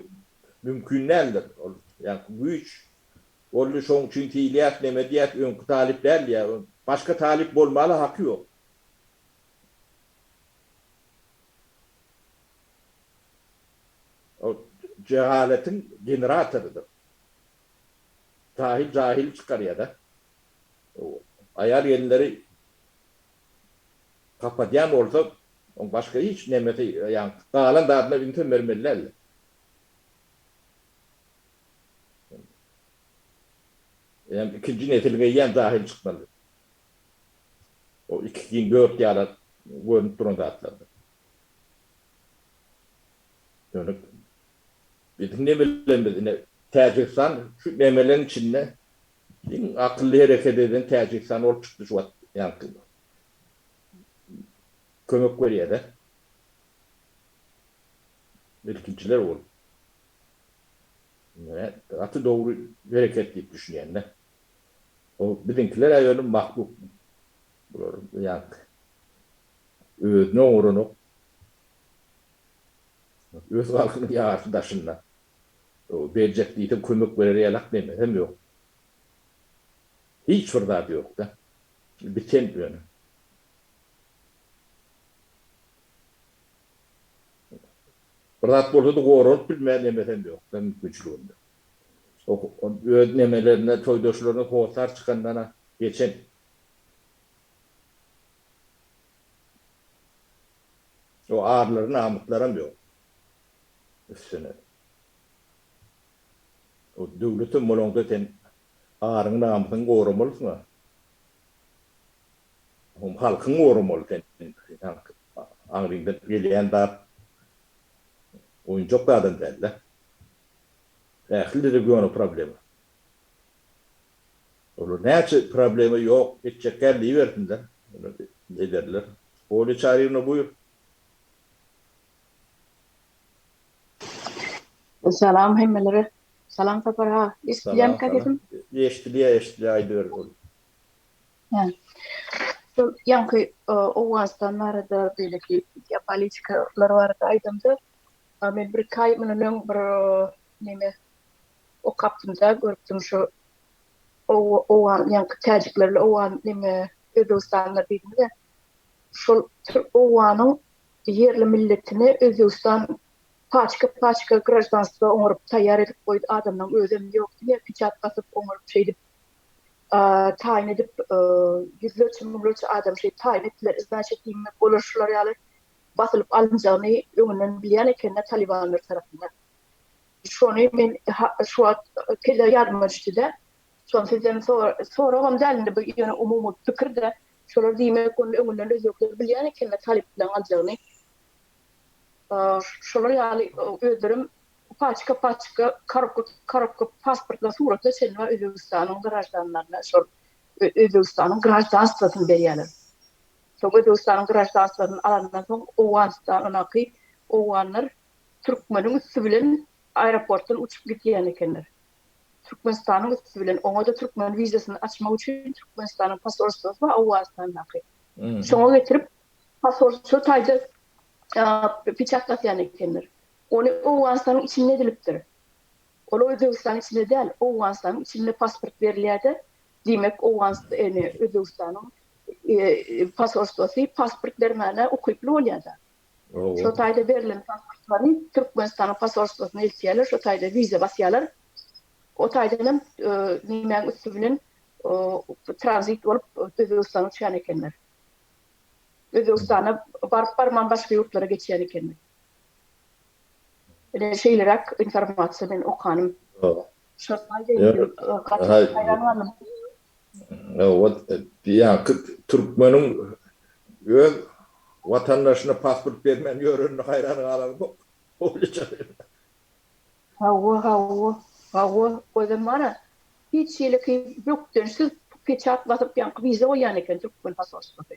mümkin däldir. Ol, ýaňky güýç boldy, şoň üçin diýilýär, neme diýýär, öňki Talyp däl diýýär. Başga Talyp bolmala haky ýok. Ol jehaletiň generatorydyr. Jahil jahili çykarýada. Aýal gelinleri kapadýan bolsa oň başga hiç nemesi ýagny galan zadyna ünsem bermeli däldir. Eýýäm ikinji nesil geýýän jahil çykmalydyr. Ol iki giň böwet ýaly görnüp duran zatlardyr. Ýöne biziň nemelerimiz ine Täjigistan şu nemeleriň içinde iň akylly hereket eden Täjigistan bolup çykdy şu wagt ýaňky kömek berýärä. Ilkinjiler bolup. Gaty dogry hereket diýip düşünýän-dä. O biziňkiler äwelin mahluk bular ýaňky özüni oňaranok öz halkynyň ýarysy daşynda o berjek diýseň kömek berer ýalak beýmesem ýok hiç bir zady ýokda biten ýöne bir zat bolsady goranyp bilmeýän emesem ýokda mümkinçiliginde Öz nemelerine, toýdaşlaryna hossar çykandan-a geçen. O arlary, namyslaram ýok. Üstüne. O döwletem bolaňda sen aryňy, namysyňy goramalysyň-a. Hom halkyňy goramaly sen. Aňryňdan gelýän zat oýunjak zadam däl-dä. Ähli dilde göni problema. Olar näçe problema ýok etjekkäm diýibersinler. Ederler. Olýa Çaryýewna buýr. Salam hemmelere. Salam Sapar aga. Eşidilýärmikä sesim? Eşidilýär eşidilýär aýdyber Olýa. Hä. Şol ýaňky Owganystan barada beýleki geopolitikalar barada aýdamda A men birki aý mundan öň bir neme okapdym-da, görüpdim şu owgan ýaňky täjiklerli owgan neme özbegistanlylar diýdim-de, şol türk owganyň ýerli milletini Özbegistan paçka-paçka graždanstwo oňaryp taýýar edip goýdy, adamlaryň özem ýok diňe piçat basyp oňaryp şeýdip taýyn edip ýüzlerçe müňlerçe adam şeýdip taýyn etdiler, iznaçe diýmek bolar şular ýaly basylyp alynjagyny öňünden bilýän ekenler talybanlar tarapyndan. Şony men şu wagt kelle ýadyma düşdi-de, şony sizden soragam däl indi bu ýöne umumy pikir-de, şolar diýmek ony öňünden özbekler bilýän ekenler talyplaň aljagyny. Şolar ýaly özlerem paçka-paçka korobka-korobka pasportlar suratlar çenli Özbegistanyň graždanlaryna şol Özbegistanyň graždanstwosyny berýärler. Soň Özbegistanyň graždanstwyny alandan soň Owganystanyňky owganlar türkmeniň üsti bilen aeroportdan uçup gidýän ekenler. Türkmenistanyň üsti bilen. Oňa-da türkmen wizasyny açmak üçin Türkmenistanyň posolstwosy bar Owganystandaky. Şoňa getirip posolstwo taýda peçat basýan ekenler. Ony Owganystanyň içinde edilipdir. Ol Özbegistanyň içinde däl, Owganystanyň içinde pasport berilýär-de, Diýmek, Owganst ene, Özbegistanyň posolstwosy pasport bermäne ukyply bolýar-da. Owo. Şo taýda berlen pasportlary Türkmenistanyň posolstwosyna eltýärler, şo taýda wiza basýarlar. O taýdan hem nämäň üsti bilen tranzit bolup Özbegistana düşýän ekenler. Özbegistana baryp-barman başga ýurtlara geçýän ekenler. Ine, şeýleräk informasiýa men okanym. Owo. Ýaňky türkmeniň öz watandaşyna pasport bermän ýörenine haýran galanok. Hawa, hawa, hawa, özem bar-a, hiç hileki bökdençsiz peçat basyp ýaňky wiza goýýan eken türkmen posolstwasy.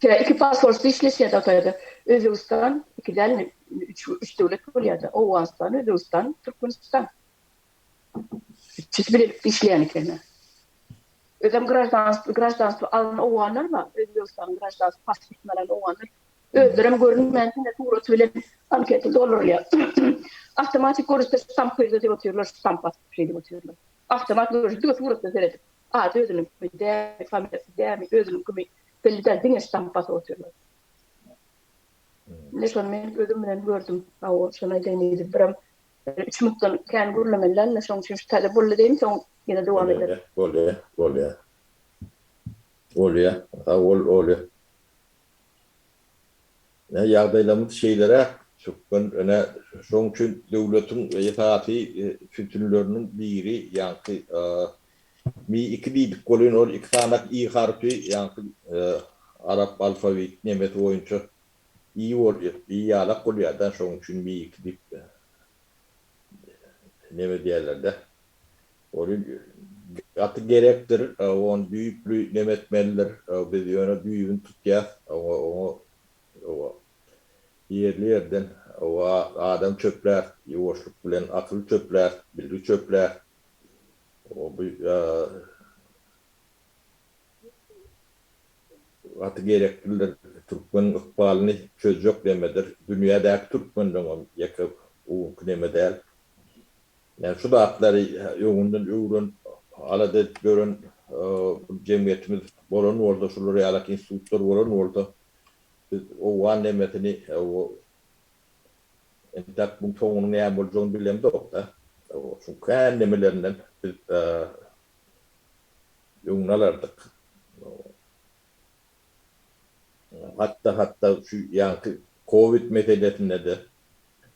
Şeýle iki posolstwo işleşýärdi o taýda. Özbegistan, iki dälmi, üç, üç döwlet bolýardy. Owganystan, Özbegistan, Türkmenistan. Üçüsi bilelikde işleýän ekenler. Özem graždanstwo, graždanstwo alan owganlar bar, Özbegistanyň graždanstwo pasportyny alan owganlar. Özlerem görünmän, diňe surat bilen anketa doldurylýar. Awtomatik görnüşde ştamp goýup diýip otyrlar, ştamp basyp şeýdip otyrlar. Awtomat görnüşde diňe suratdan seredip. Ady özüniňkimi, dämi, familiýasy dämi, özüniňkimi belli däl, diňe ştamp basyp otyrlar. Indi şony men gözüm bilen gördüm. Hawa, şony aýdaýyn diýdim. Biram üç minutdan kän gürlemeliler-le, şonuň üçin şu täze boldy diýiň, soň ýene dowam ederis. Bolýar, bolýar. Bolýar. Sag bol, Oly. Ine, ýagdaýlarymyz şeýleräk, türkmen. Ine, şonuň üçin döwletiň esasy sütünleriniň biri ýaňky Mi iki diýdik bolýan ol iki sanak i harpy ýaňky arap alfawit nemes boýunça i bolýar i ýalak bolýada şoň üçin mi iki diýip neme diýerlerde ol gaty gerekdir ony düýpli neme etmelidir biz ýöne düýbüni tutýas oňa oňa oba ýerli ýerden oba adam çöplärt ýuwaşlyk bilen akyl çöplärt bilgi çöplärt. Gaty gereklidir. Türkmeniň ykbalyny çözjek nemedir. Dünýädäki türkmenleňem ýeke bugünki neme däl. Ýani şu zatlary öňünden öwrenip, alada edip ýören bir jemgyýetimiz bolan bolsa, şular ýalak institutlar bolan bolsa, biz owgan nemesini Entäk muň soňunyň näme boljagyny bilemzok-da. Şuň kän nemelerinden biz öňüni alardyk. Hatda-hatda şu ýaňky kowid meselesinde-de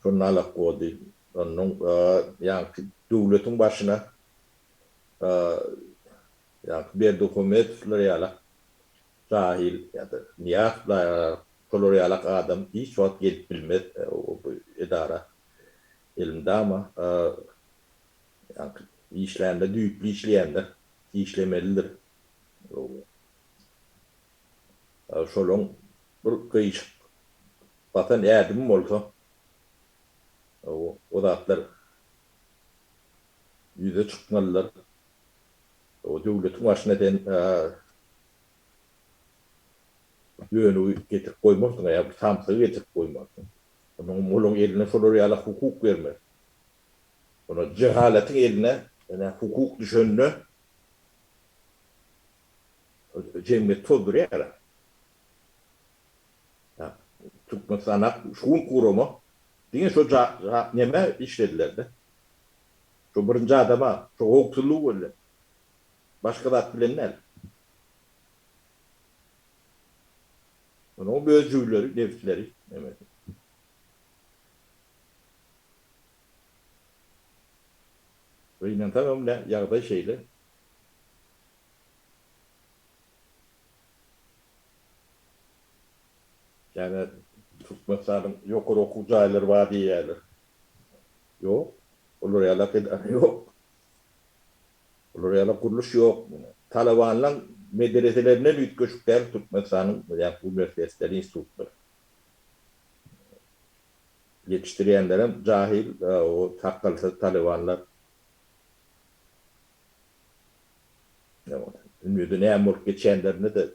şondan alak boldy. Onnoň ýaňky döwletiň başyna ýaňky Berdihumetowlar ýalak Jahil ýa-da Nyýaz şolar ýalak adam hiç wagt gelip bilmez bu edara. Elmydama işlände düýpli işleýänler işlemelidir. Şolaň bir gyşyk batan ädimi bolsa o zatlar ýüze çykmalydyr. O döwletiň başyna sen dönügi getirip goýmarsyň ýa bir samsygy getirip goýmarsyň. Onuň muluň eline şolar ýala hukuk bermez. Ony jehalatyň eline ene hukuk düşende jemgyýet tozdurýar. Türkmenistan ak şu gün gurama diňe şo neme işlediler-de. Şu birinji adama şu howpsuzlygy gözläp. Başga zat bilen däl. Onuň öz jüwleri, nebsleri, nemesi. Gynansaňam nä, ýagdaý şeýle. Ýa-da Türkmenistanyň ýokary okuw jaýlary bar diýýärler. Ýok. Olar ýalak edara ýok. Olar ýalak gurluş ýok. Talabanlaň medreselerinden üýtgeşik däl Türkmenistanyň bu ýa uniwersitetleri, institutlary. Ýetişdirýänlerem jahil, o takgylsyz talabanlar. Ýa onda ünjede näme bolup geçýänlerini-de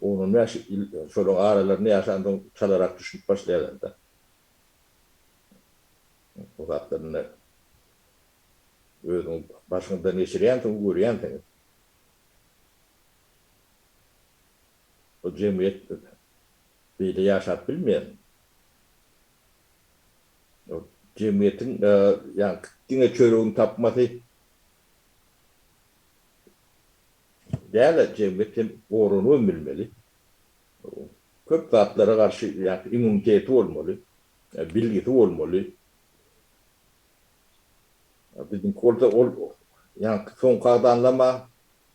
On-on bäş ýyl şolaryň aralarynda ýaşansoň çalarak düşünip başlaýarlar-da bu zatlar indi. Özüň başyňdan geçirýänsiň, görýänsiň. Bu jemgyýet beýle ýaşap bilmeýär. Jemgyýetiň ýa diňe çöregini tapmasy. Däl-ä, jemgyýet hem goranybam bilmeli. Köp zatlara garşy ýa-da immuniteti bolmaly, bilgisi bolmaly. Biziňki bolsa ol ýaňky soňky agzanlama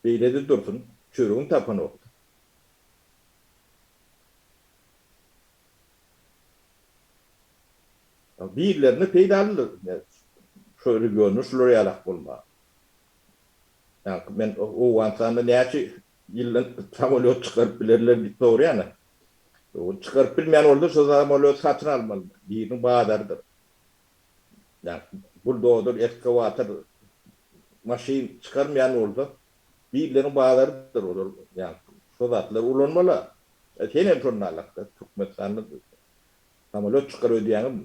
beýle-de dursun, çöregini tapanokdy. Birlerine peýdalydyr şu regionda şular ýalak bolmak. Ýaňky men Owganystanda näçe ýyldan samolýot çykaryp bilerler diýip soraýan. Ol çykaryp bilmeýän bolsa şu samolýody satyn almaly. Biriniň bazarydyr. Ýaňky buldozer, eskawator, maşyn çykarmaýan bolsa birleriň bazarydyr olar ýaňky şu zatlary ulanmaly. Senem şonda ýalak-da Türkmenistanda Samolýot çykar öýdýäňizmi?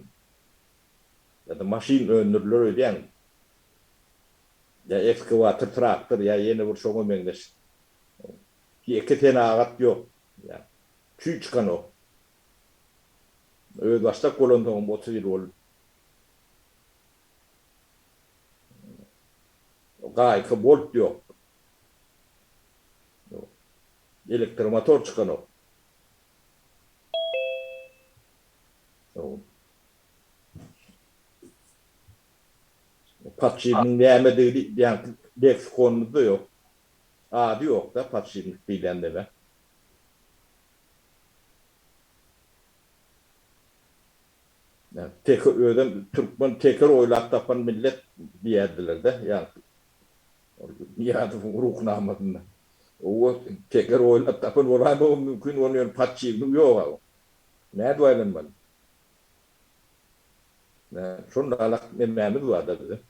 Ýa-da maşyn öndüriler öýdýäňizmi? Ýa ekskawator, traktor ýa ýene bir şoňa meňzeş ýeke senagat ýok, ýa çüý çykanok. Özbaşdak bolansoňam otuz ýyl bolup, gaýyka bolt ýok, elektromotor çykanok. Podşipniň nämedigini diýýän leksikonymyzda ýok. Ady ýok-da podşipnik diýilýän däbe. Ýa, teke özem türkmen teker oýlap tapan millet diýerdiler-de. Ýa, Nyýazowyň Ruhnamasynda oba teker oýlap tapan bolandygy mümkin bolmaly, ýöne podşiwnik ýog-a bu. Nädip aýlanmaly? Şonda-lak nemämiz bar-da biziň?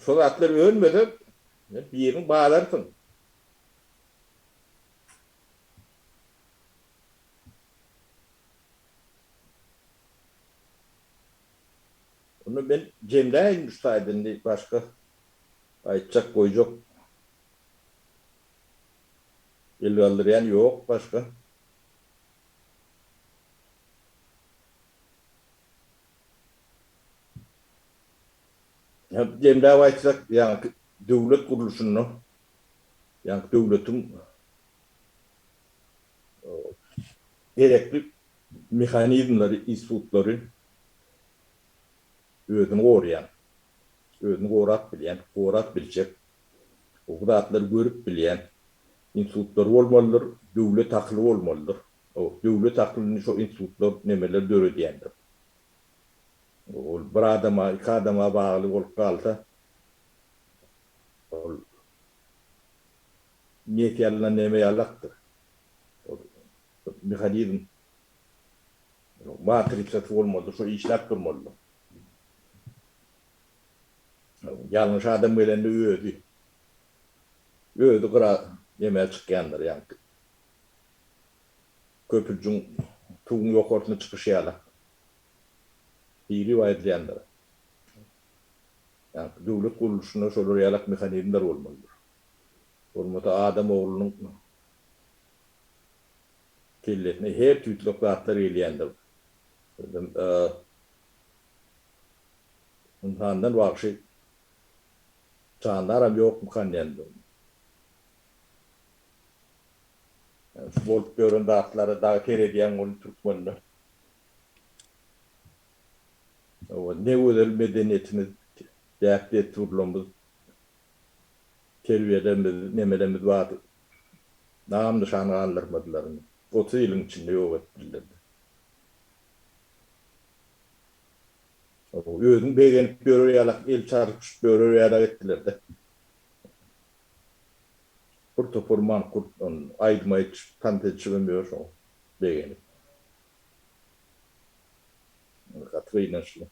Şo zatlar ölmese, sen biriň balarsyň. Onda men jemläýin üç taýda indi başga aýtjak goýjak el galdyrýan ýok başga. Jemläp aýtsak ýaňky döwlet gurluşynda ýaňky döwletiň. gerekli mehanizmleri, institutlary özüni goraýan, özüni gorap bilýän, gorap biljek, bu zatlary görüp bilýän institutlary bolmalydyr, döwlet akyly bolmalydyr. Döwlet akylyny şo institutlar, nemeler döredýändir. Ol bir adama, iki adama bagly bolup galsa, ol Nýetýanyndan näme ýaly akdyr? Ol mehanizm matrisasy bolmalydyr, şo işläp durmalydyr. Ýalňyş adam gelende özi, özi gyra näme çykýandyr, ýa köpüjiň tuguň ýokarsyna çykyşy ýalak biri bar edilýändir. Ýa döwlet gurluşynda şolar ýalak mehanizmler bolmalydyr. bolmasa adam oglunyň kellesine her tüýtlek zatlar gelýändir. Özem ynsandan wagşy jandaram ýokmykan diýendir. Ýöne şu bolup ýören zatlara dagy seredýäň weli türkmende. Hawa, ne gözel medeniýetimiz, däp-dessurlarymyz. Terbiýeden biz nemelerimiz bar nam nyşan galdyrmadylar otuz ýylyň içinde ýok etdirler. Özüň begenip ýörer ýalak el çarpyşyp ýörer ýalak etdiler-de. Bir topar mankurt aýdym aýdyşyp tans edişibem ýör şoň begenip. Gaty gynançly.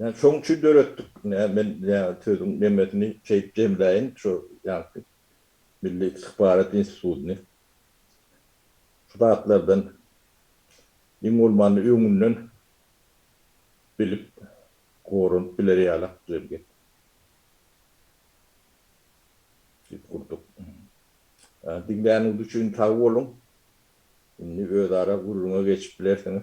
Ýa şoň üçin döretdik nä men ýa sözüň nemesini şeýip jemläýin şo ýaňky Milli Istihbarat Institutyny şu zatlardan iň bolmanda öňünden bilip goranyp biler ýala güzel gep diýip gurdyk. Diňläniňiz üçin sag boluň. Indi özara gürrüňe geçip bilersiňiz.